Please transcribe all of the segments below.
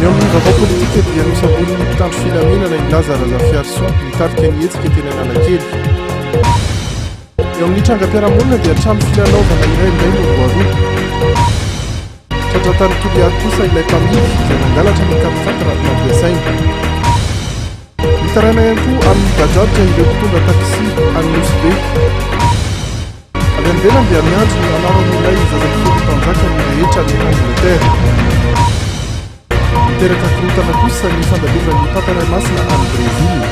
Ny ao amin'ny vaovao politika dia nosamborin'ny mpitandro filaminana i Laza Razafiarisoa, nitarika ny hetsika teny Analakely. Eo amin'ny trangam-piarahamonina dia trano filalaovana iray indray no voaroba. Tratran-tany Toliary kosa ilay mpamily izay nangalatra ny kamifaty raha nampiasaina. Mitaraina ihany koa amin'ny bajaj ireo mpitondra taxi any Nosy Be. Avy any ivelany dia miantso ny anaran'ilay zaza folo mpanjaka ny rehetra any Angletera. Miteraka korontana kosa ny fandalovany Papa Ray Masina any Brezila.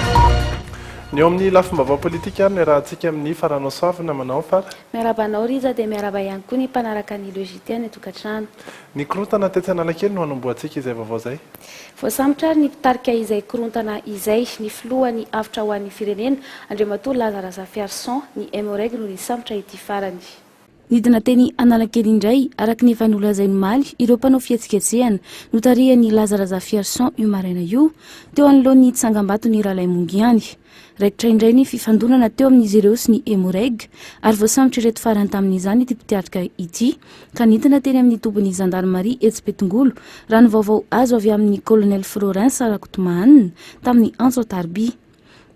Ny eo amin'ny lafim-baovao politika ary ny rahantsika amin'ny Faranosoavina. Manao ny fara. Miarahaba anao Rija dia miarahaba ihany koa ny mpanaraka ny Le JT any an-tokantrano. Ny korontana tetsy Analakely no hanombohantsika izay vaovao izay. Voasambotra ary ny mpitarika izay korontana izay. Ny filohan'ny avotra ho an'ny firenena, Andriamatoa Laza Razafiarison, ny MOREG no nisambotra ity farany. Nidina teny Analakely indray, araka ny efa nolazainy omaly, ireo mpanao fihetsiketsehana, notarihan'i Laza Razafiarison io maraina io, teo anoloan'ny tsangambaton'i Ralaimongiany. Raikitra indray ny fifandonana teo amin'izy ireo sy ny Emmo-Reg ary voasambotr'ireto farany tamin'izany ity mpitiatrika ity ka nentina teny amin'ny tobin'ny zandarimaria etsy Betongolo, raha ny vaovao azo avy amin'ny Colonel Florens Rakotomahanina tamin'ny antso an-tarobia.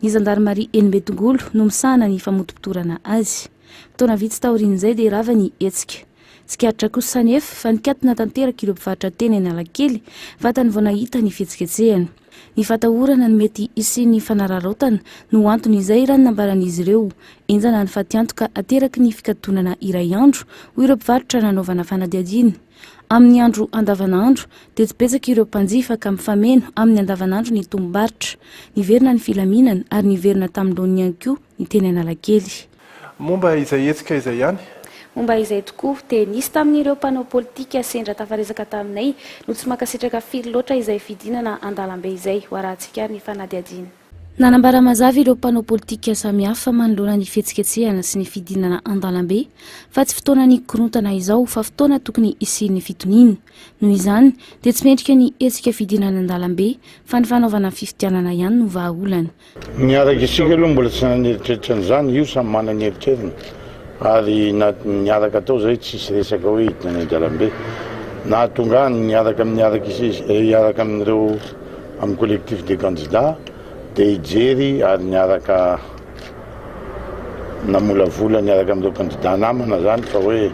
Ny zandarimaria eny Betongolo no misahana ny famotopotorana azy. Fotoana vitsy taorian'izay dia rava ny hetsika. Tsikaritra kosa anefa fa nikatona tanteraka ireo mpivarotra teny Analakely vatany vao nahita ny fihetsiketsehana. Ny fatahorana ny mety hisian'ny fanararaotana no antony izay raha ny nambaran'izy ireo. Henjana ny fatiantoka ateraky ny fikatonana iray andro, hoy ireo mpivarotra nanaovana fanadihadiana. Amin'ny andro andavanandro dia tsy betsaka ireo mpanjifa ka mifameno amin'ny andavanandro ny tombom-barotra. Niverina ny filaminana ary niverina tamin'ny laoniny ihany koa ny teny Analakely. Momba izay hetsika izay ihany? Momba izay tokoa. Dia nisy tamin'ireo mpanao politika sendra tafaresaka taminay no tsy mankasitraka firy loatra izay fidinana an-dalambe izay, ho arahantsika ary ny fanadihadiana. Nanambara mazava ireo mpanao politika samihafa manoloana ny fihetsiketsehana sy ny fidinana an-dalambe fa tsy fotoana ny korontana izao fa fotoana tokony hisian'ny fitoniana. Noho izany dia tsy mendrika ny hetsika fidinana an-dalambe fa ny fanaovana fifidianana ihany no vahaolana. Ny araka isika aloha mbola tsy naneritreritra an'izany, io samy manana ny eritreriny ary na ny araka atao izay tsisy resaka hoe hidina any an-dalambe. Nahatonga ahy ny niaraka amin'ny araka isika, hiaraka amin'ireo amin'ny collectif des candidats dia hijery ary niaraka namolavola niaraka amin'ireo kandida namana izany fa hoe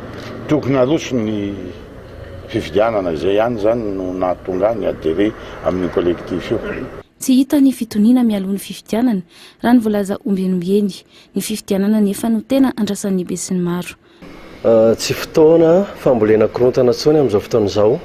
tokony haroso ny fifidianana. Izay ihany izany no nahatonga ahy ni-adherer amin'io collectif io. Tsy hita ny fitoniana mialoha ny fifidianana, raha ny voalaza ombieny ombieny. Ny fifidianana anefa no tena andrasan'ny besinimaro. Tsy fotoana fambolena korontana intsony amin'izao fotoana izao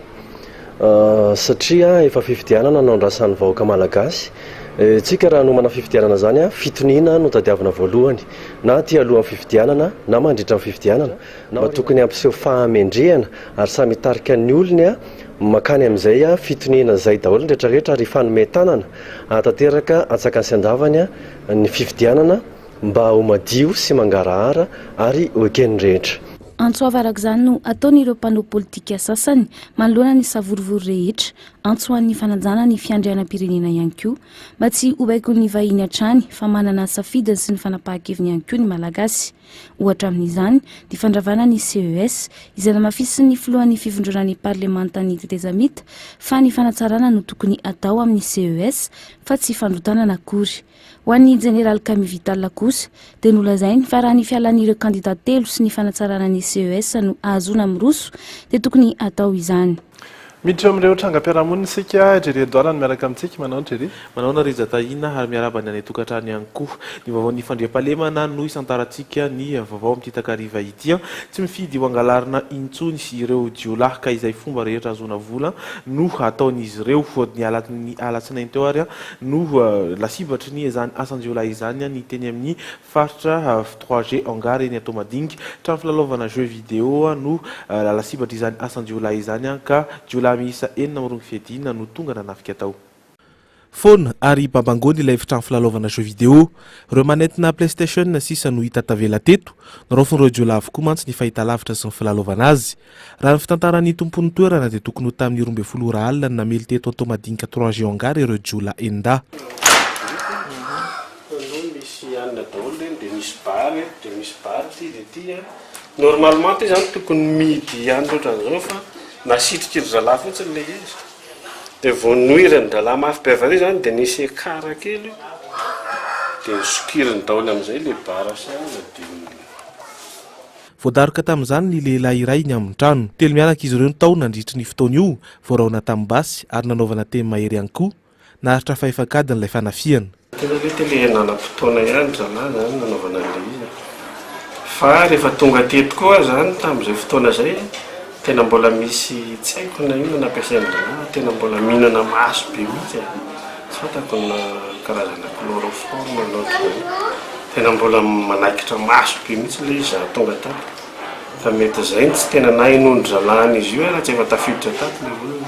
satria efa fifidianana no andrasan'ny vahoaka malagasy. Isika raha hanomana fifidianana izany, fitoniana no tadiavina voalohany, na aty alohan'ny fifidianana na mandritra ny fifidianana. mba tokony hampiseho fahamendrehana ary samy hitarika ny olony mankany amin'izay fitoniana izay daholo ny rehetra rehetra ary hifanome tanana hahatanteraka antsakany sy andavany ny fifidianana mba ho madio sy mangarahara ary ho eken'ny rehetra. Antso avo araka izany no ataon'ireo mpanao politika sasany manoloana ny savorovoro rehetra, antso ho an'ny fanajana ny fiandrianam-pirenena ihany koa mba tsy ho baikon'ny vahiny hatrany fa manana safidiny sy ny fanapahan-keviny ihany koa ny Malagasy. Ohatra amin'izany, ny fandravana ny CES, izay namafisin'ny filohan'ny fivondrona ny parlemantan'ny tetezamita fa ny fanatsarana no tokony atao amin'ny CES fa tsy fandrotanana akory. Ho an'ny jeneraly Camille Vital kosa dia nolazainy fa raha ny fialan'ireo kandida telo sy ny fanatsarana ny CES no ahazoana miroso dia tokony atao izany. Miditra amin'ireo trangam-piarahamonina isika. Jerry Edouard no miaraka amintsika. Manahoana Jerry? Manahoana Rija Tahiana ary miarahaba ny any an-tokantrano ihany koa. Ny vaovaon'ny fandriampahalemana no isantarantsika ny vaovao amin'ity takariva ity. Tsy mifidy ho angalarina intsony ireo jiolahy ka izay fomba rehetra ahazoana vola no ataon'izy ireo. Ny alatsinainy teo ary no lasibatry ny izany asan-jiolahy izany ny teny amin'ny Faritra avy trois G Hangar eny Toamadinga, trano filalaovana jeux vidéo no lalatsibatr'izany asan-jiolahy izany ka jiolahy miisa enina mirongo fiadiana no tonga nanafika tao. Foana ary bambangony ilay efitrano filalaovana jeux vidéo. Ireo manettina playstation sisa no hita tavela teto. Noraofin'ireo jiolahy avokoa mantsy ny fahitalavitra sy ny filalaovana azy. Raha ny fitantaran'ny tompon'ny toerana dia tokony ho tamin'ny roa ambin'ny folo ora alina no namely teto Antohomadinika trois G Hangar ireo jiolahy enida. Voadaroka tamin'izany ny lehilahy iray ny amin'ny trano. Telo mianaka izy ireo no tao nandritry ny fotoana io, voaraona tamin'ny basy ary nanaovana teny mahery ihany koa. Naharitra fahefankadiny ilay fanafihana. Tena ve te le nanam-potoana ihany zalahy zany nanaovana an'ilay izy e? Fa rehefa tonga teto koa aho zany tamin'izay fotoana izay, Tena mbola misy tsy haiko na inona nampiasain drala tena mbola mihinana maso be mihitsy e! tsy fantako na karazana chloroforme na otr'izany tena mbola manaikitra maso be mihitsy ilay izy za tonga tato ka mety izay no tsy tena nahenoan-dry zalahy an'izy io e raha tsy efa tafiditra tato ilay olona.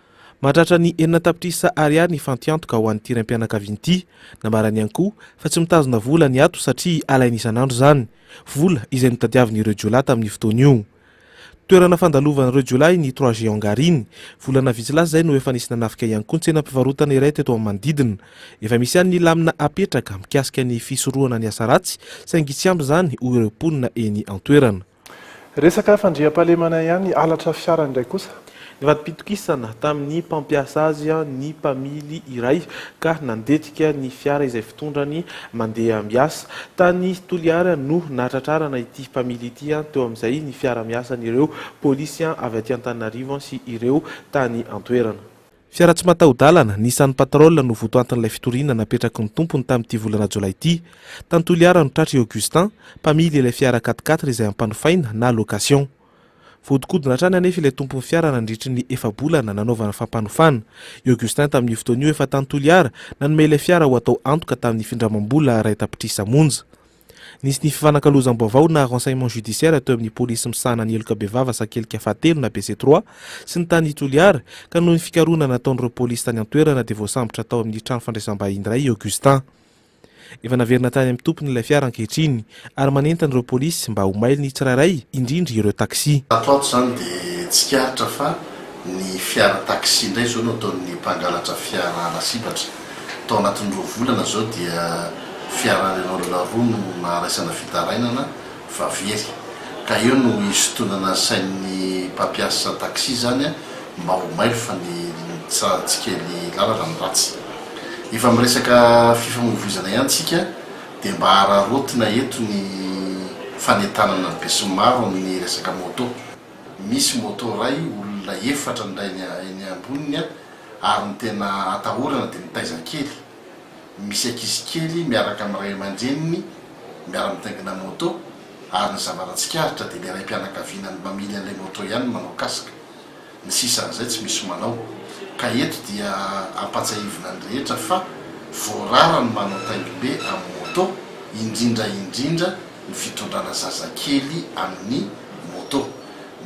Mahatratra ny enina tapitrisa ariary ny fantiantoka ho an'ity raim-pianakaviana ity. Nambarany ihany koa fa tsy mitazona vola ny ato satria alainy isan'andro izany, vola izay notadiavin'ireo jiolahy tamin'io fotoana io. Toerana fandalovan'ireo jiolahy ny Trois Géants Garine. Volana vitsy lasa izay no efa nisy nanafika ihany koa ny tsenam-pivarotana iray teto amin'ny manodidina. Efa misy ihany ny lamina apetraka mikasika ny fisorohana ny asa ratsy saingy tsy ampy izany hoy ireo mponina eny an-toerana. Resaka fandriampahalemana ihany, halatra fiara indray kosa. Nivadi-pitokisana tamin'ny mpampiasa azy ny mpamily iray ka nandetika ny fiara izay fitondrany mandeha miasa. Tany Toliara no nahatratrarana ity mpamily ity teo amin'izay ny fiara-miasan'ireo polisy avy aty Antananarivo sy ireo tany an-toerana. Fiara tsy mataho-dalana, Nissan Patrol, no votoatin'ilay fitoriana napetraky ny tompony tamin'ity volana jolay ity. Tany Toliara no tratry i Augustin, mpamily ilay fiara quat-quatre izay ampanofaina na location. Vohodinkodina hatrany anefa ilay tompon'ny fiara nandritry ny efa-bolana nanaovana fampanofana. I Augustin tamin'io fotoana io efa tany Toliara, nanome ilay fiara ho atao antoka tamin'ny findramam-bola rahetam-pitrisa monja. Nisy ny fifanakalozam-baovao na renseignement judiciaire teo amin'ny polisy misahana ny heloka bevava Sakelika fahatelo na BC trois sy ny tany Toliara ka noho ny fikarohana nataon'ireo polisy tany an-toerana dia voasambotra tao amin'ny trano fandraisam-bahiny iray i Augustin. Efa naverina tany amin'ny tompony ilay fiara ankehitriny ary manentana ireo polisy mba ho mailo ny tsirairay indrindra ireo taxi. Ato ato izany dia tsikaritra fa ny fiara taxi indray izao no ataon'ny mpangalatra fiara lasibatra. Tao anatin'ny roa volana izao dia fiara Renault roa no naharaisana fitarainana fa very. Ka eo no hisintonana sain'ny mpampiasa taxi izany mba ho mailo fa ny tsikely lalana no ratsy. Efa miresaka fifamoivoizana ihany tsika dia mba hararaotina eto ny fanentanana besinimaro amin'ny resaka moto. Misy moto iray olona efatra ny rainy eny amboniny ary ny tena atahorana dia ny taiza kely misy ankizy kely miaraka amin'ny ray aman-dreniny miara-mitaingina moto ary ny zavatra tsikaritra dia ilay raim-pianakaviana mamily an'ilay moto ihany no manao casque, ny sisan'izay tsy misy manao ka eto dia ampatsiahivina ny rehetra fa voarara ny manao taingim-be amin'ny moto indrindra indrindra ny fitondrana zazakely amin'ny moto.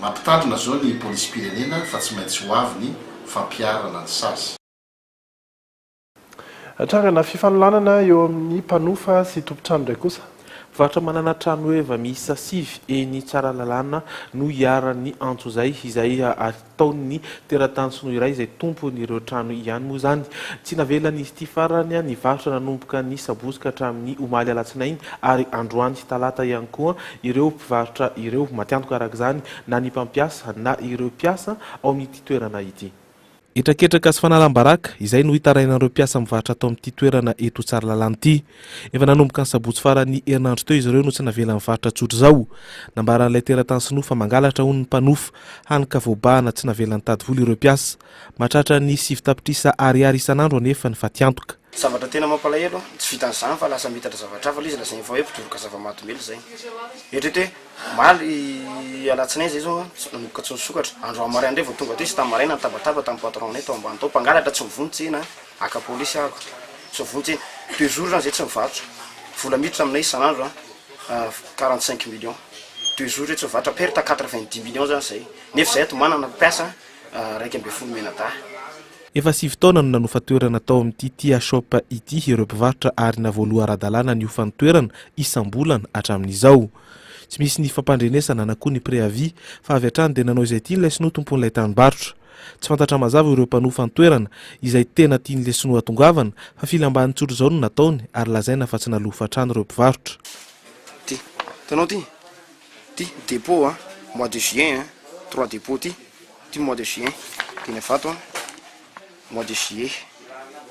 Mampitandrina zao ny polisim-pirenena fa tsy maintsy ho avy ny fampiharana ny sazy. Trangana fifanolanana eo amin'ny mpanofa sy tompon-trano indray kosa. Mpivarotra manana tranoheva miisa sivy eny Tsaralalàna no iharan'ny antso izay, izay ataon'ny teratany sinoa iray izay tompon'ireo trano ihany moa izany. Tsy navelany ity farany nivarotra nanomboka ny sabotsy ka hatramin'ny omaly alatsinainy ary androany talata ihany koa ireo mpivarotra ireo. Matiantoka araka izany na ny mpampiasa na ireo mpiasa ao amin'ity toerana ity. Hetraketraka sy fanalam-baraka izay no hitarainan'ireo mpiasa mivarotra ato amin'ity toerana eto Tsaralalana ity. Efa nanomboka ny sabotsy faran'ny herinandro teo izy ireo no tsy navela nivarotra tsotr'izao. Nambaran'ilay teratany sinoa fa mangalatra hono ny mpanofa, hany ka voabahana tsy navela nitady vola ireo mpiasa. Mahatratra ny sivy tapitrisa ariary isan'andro anefa ny fatiantoka. Zavatra tena mampalahelo an, tsy vitan'ny zany fa lasa mitatra zavatra hafa le izy lazainy fa hoe mpitoroka zava-mahadomelina zay. Eritrereto hoe omaly alatsinainy zay zao an, nanomboka tsy nisokatra, androany maraina indray vao tonga aty izy, tamy maraina nitabataba tamy patron-nay tao ambany tao, mpangalatra tsy mivony tsena an, haka polisy aho ko, tsy mivony tsena, deux jours zany zay tsy nivarotra, vola miditra aminay isan'andro an, quarante cinq millions, deux jours zay tsy nivarotra, perte quatre vingt dix millions zany zay, nefa izahay ato manana mpiasa an, iraika ambin'ny folo menadahy. Efa sivy taona no nanofa toerana tao amin'ity Tia Shop ity ireo mpivarotra ary navoaloha ara-dalàna niofa ny toerana isam-bolana hatramin'izao. Tsy misy ny fampandrenesana na koa ny préavis fa avy hatrany dia nanao izay tiany ilay sinoa tompon'ilay tranombarotra. Tsy fantatra mazava ireo mpanofa ny toerana izay tena tian'ilay sinoa atongavana fa filam-baniny tsotra izao no nataony ary lazaina fa tsy nalofa hatrany ireo mpivarotra. ty depot a mois de juin a trois depot ty ty mois de juin teny avato a mois de juillet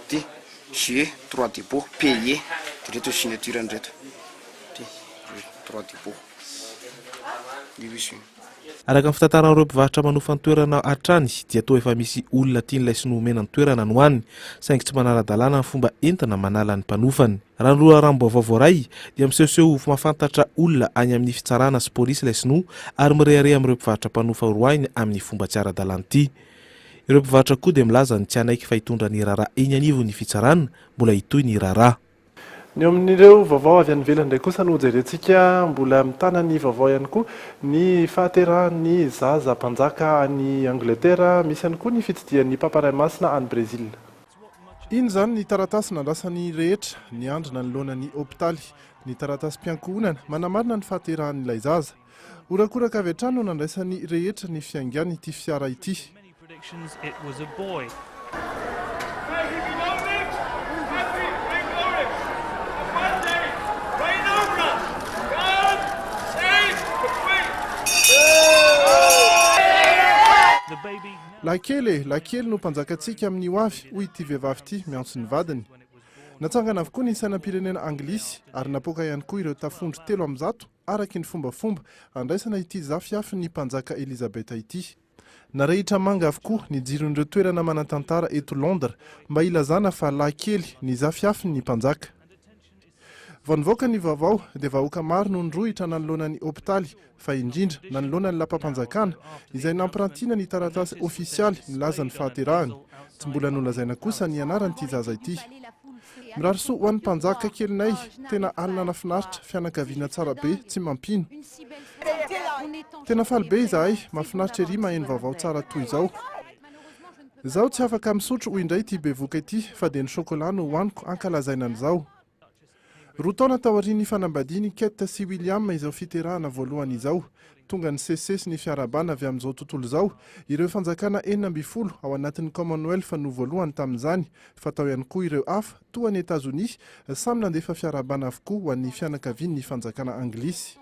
ty juillet trois depot paye de reto signature ny reto ty trois depot io izy io Araka ny fitantaran'ireo mpivarotra manofa ny toerana hatrany dia toa efa misy olona tian'ilay sinoa omena ny toerana no any saingy tsy manara-dalàna ny fomba entina manala ny mpanofany. Raha ny loharanom-baovao voaray, dia misehoseho ho mahafantatra olona any amin'ny fitsarana sy polisy ilay sinoa ary mirehareha amin'ireo mpivarotra mpanofa horoahiny amin'ny fomba tsy ara-dalàna ity. Ireo mpivarotra koa dia milaza ny tsy hanaiky fa hitondra ny raharaha eny anivon'ny fitsarana, mbola hitohy ny raharaha. Ny eo amin'ireo vaovao avy any ivelany indray kosa no jerentsika, mbola mitana ny vaovao ihany koa ny fahaterahan'ny zaza mpanjaka any Angletera, misy ihany koa ny fitsidihan'ny Papa Ray Masina any Brezila. Iny izany ny taratasy nandrasan'ny rehetra niandry nanoloana ny hopitaly. Ny taratasim-piankohonana manamarina ny fahaterahan'ilay zaza. Horakoraka avy hatrany no nandraisan'ny rehetra ny fiaingan'ity fiara ity. Lahikely e! Lahikely no mpanjakantsika amin'ny ho avy, hoy ity vehivavy ity miantso ny vadiny. Natsangana avokoa ny sainam-pirenena anglisy ary napoaka ihany koa ireo tafondro telo amin'ny zato araka ny fombafomba handraisana ity zafiafin'ny Mpanjaka Elizabeth ity. Narehitra manga avokoa ny jiron'ireo toerana manan-tantara eto Londres mba hilazana fa lahikely ny zafiafin'ny Mpanjaka. Vao nivoaka ny vaovao dia vahoaka maro no nirohitra nanoloana ny hopitaly fa indrindra nanoloana ny lapam-panjakana izay nampirantiana ny taratasy ofisialy milaza ny fahaterahany. Tsy mbola nolazaina kosa ny anaran'ity zaza ity. Mirary soa ho an'ny mpanjaka kelinay, tena alina nafinaritra, fianakaviana tsara be, tsy mampino. Tena faly be izahay, mafinaritra ery maheno vaovao tsara toy izao. Zaho tsy afaka misotro hoy indray ity bevoka ity fa dia ny chocolat no hohaniko hankalazaina an'izao. Roa taona taorian'ny fanambadian'i Kate sy William izao fiterahana voalohany izao, tonga nisesisesy ny fiarahabana avy amin'izao tontolo izao ireo fanjakana enina ambin'ny folo ao anatin'ny Commonwealth no voalohany tamin'izany fa tao ihany koa ireo hafa toa an'i Etazonia samy nandefa fiarahabana avokoa ho an'ny fianakavian'ny fanjakana anglisy.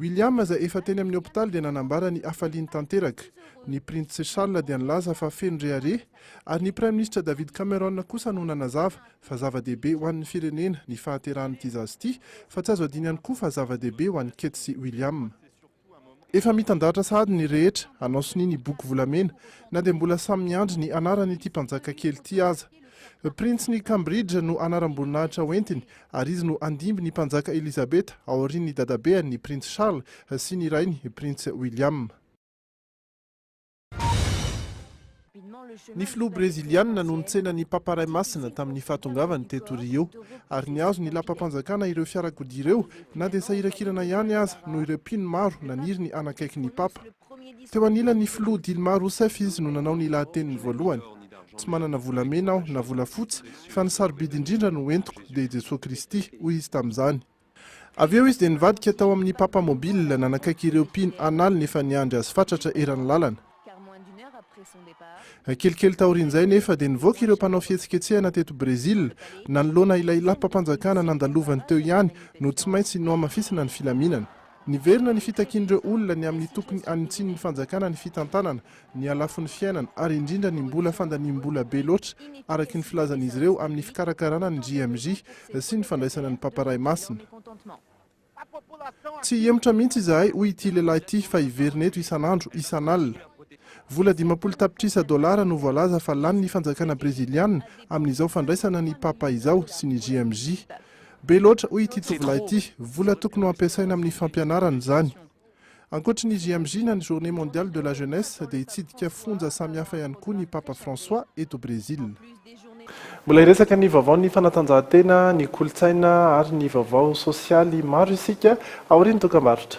William izay efa teny amin'ny hopitaly dia nanambara ny hafaliany tanteraka. Ny Printsy Charles dia nilaza fa feno rehareha, ary ny Praiminisitra David Cameron kosa no nanazava fa zava-dehibe ho an'ny firenena ny fahaterahan'ity zaza ity, fa tsy azo adino ihany koa fa zava-dehibe ho an'i Kate sy William. Efa mitandahatra sahady ny rehetra hanao sonia ny boky volamena, na dia mbola samy miandry ny anaran'ity mpanjaka kely ity aza. Printsin'i Cambridge no anaram-boninahitra hoentiny, ary izy no andimby ny Mpanjaka Elizabeta, aorian'ny dadabeany, ny Printsy Charles, sy ny rainy, Printsy William. Ny filoha breziliana no nitsena ny Papa Ray Masina tamin'ny fahatongavany teto Rio, ary nihazo ny lapam-panjakana ireo fiarakodia ireo, na dia sahirakirana ihany aza noho ireo mpino maro naniry ny hanakaiky ny Papa. Teo anilan'ny filoha Dilma Rousseff izy no nanao ny lahateniny voalohany. Tsy manana volamena aho na volafotsy, fa ny sarobidy indrindra no entiko dia i Jesoa Kristy, hoy izy tamin'izany. Avy eo izy dia nivadika tao amin'ny Papa Mobile nanakaiky ireo mpino an'aliny efa niandry azy fatratra eran'ny lalana. Kelikely taorian'izay nefa dia nivoaka ireo mpanao fihetsiketsehana teto Brezila, nanoloana ilay lapam-panjakana nandalovan'ny teo ihany no tsy maintsy nohamafisina ny filaminana. Niverina ny fitakian'ireo olona ny amin'ny tokony hanintsinin'ny fanjakana ny fitantanana ny halafon'ny fiainana ary indrindra ny mbola fandaniam-bola be loatra, araka ny filazan'izy ireo amin'ny fikarakarana ny JMJ sy ny fandraisana ny Papa Ray Masina. Tsy hihemotra mihitsy izahay, hoy ity lehilahy ity, fa hiverina eto isan'andro, isan'alina. Vola dimampolo tapitrisa dolara no voalaza fa lanin'ny fanjakana Breziliana amin'izao fandraisana ny Papa izao sy ny JMJ. Be loatra hoy ity tovolahy ity, vola tokony ho ampiasaina amin'ny fampianarana izany. Ankoatry ny JMJ na ny Journée Mondiale de la Jeunesse dia hitsidika fonja samihafa ihany koa ny Papa François eto Brezila. Mbola hiresaka ny vaovaon'ny fanatanjahantena, ny kolontsaina ary ny vaovao sosialy maro isika aorian'ny dokambarotra.